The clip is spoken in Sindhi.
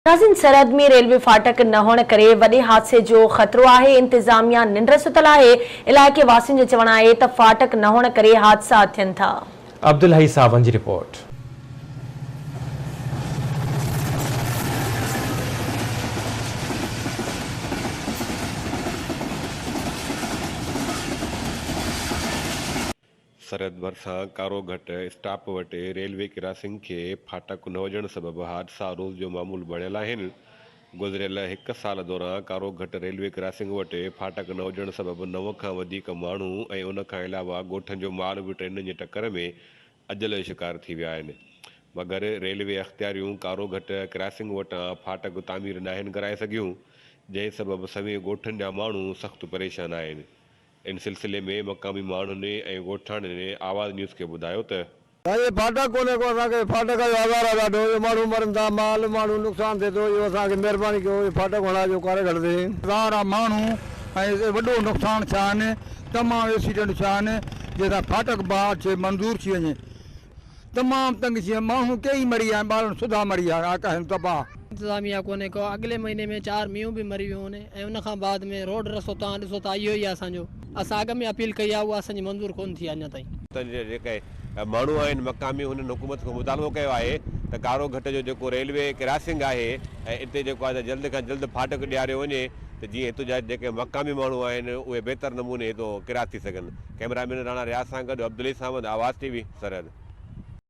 ناظرين سرحد ۾ ريلوي ڦاٽڪ نه هئڻ ڪري وڏي حادثي جو خطرو آهي، انتظاميا ننڊ ستل آهي، علائقي واسين جو چوڻ آهي ته ڦاٽڪ نه هئڻ ڪري حادثا ٿين ٿا. عبدالحئي ساون جي رپورٽ. سرحد ڀرسان ڪارو گهٽ اسٽاپ وٽ ريلوي ڪراسنگ کي ڦاٽڪ نه هجڻ سبب حادثا روز جو معمول بڻيل آهن. گذريل هڪ سال دوران ڪارو گهٽ ريلوي ڪراسنگ وٽ ڦاٽڪ نه هجڻ سبب نو کان وڌيڪ ماڻهو ۽ ان کان علاوه ڳوٺن جو مال به ٽرينن جي ٽڪر ۾ اجل جو شڪار ٿي ويا آهن مگر ريلوي اختياريون ڪارو گهٽ ڪراسنگ وٽان ڦاٽڪ تعمير ناهن ڪرائي سگهيون جنهن سبب سوين ڳوٺن جا ماڻهو سخت پريشان آهن. ان سلسلي ۾ مقامي ماڻهن ۽ ڳوٺاڻن آواز نيوز کي ٻڌايو ته. سائين اهي ڦاٽڪ ڪونهي ڪو اسان کي ڦاٽڪ جو آزار آهي ڏاڍو اهو ماڻهو مرن ٿا مال ماڻهو نقصان ٿئي ٿو اهو اسان کي مهرباني ڪيو اهي ڦاٽڪ هڻائي جو ڪاري گهڙ تي. هزار آ ماڻهو ۽ وڏو نقصان ٿيا آهن تمام ايڪسيڊنٽ ٿيا آهن جنهن سان ڦاٽڪ بحال ٿئي منظور ٿي وڃي. تمام تنگ ٿي ويم. ماڻهو ڪيئي مري ويا ۽ ٻارڙن سڌا مري ويا آهن. ڪاهين تباهه. انتظاميه ڪونهي ڪو. اڳلي مهيني ۾ چار مينهون به مري ويون آهن ۽ ان کان بعد ۾ روڊ رستو توهان ڏسو ٿا اهو ئي آهي اسان جو. اسان اڳ ۾ اپيل ڪئي آهي اها اسان جي منظور ڪونه ٿي آهي اڃا تائين. اتان جا جيڪي ماڻهو آهن مقامي انهن حڪومت کان مطالبو ڪيو آهي ته ڪارو گهٽ جو جيڪو ريلوي ڪراسنگ آهي ۽ اتي جيڪو آهي جلد کان جلد ڦاٽڪ ڏياريو وڃي ته جيئن هتو جا جيڪي مقامي ماڻهو آهن اهي بهتر نموني هتو ڪراس ٿي سگهن. ڪئميرا مين راڻا رياض سان گڏ عبدالعلي ساوند آواز ٽي وي سرحد.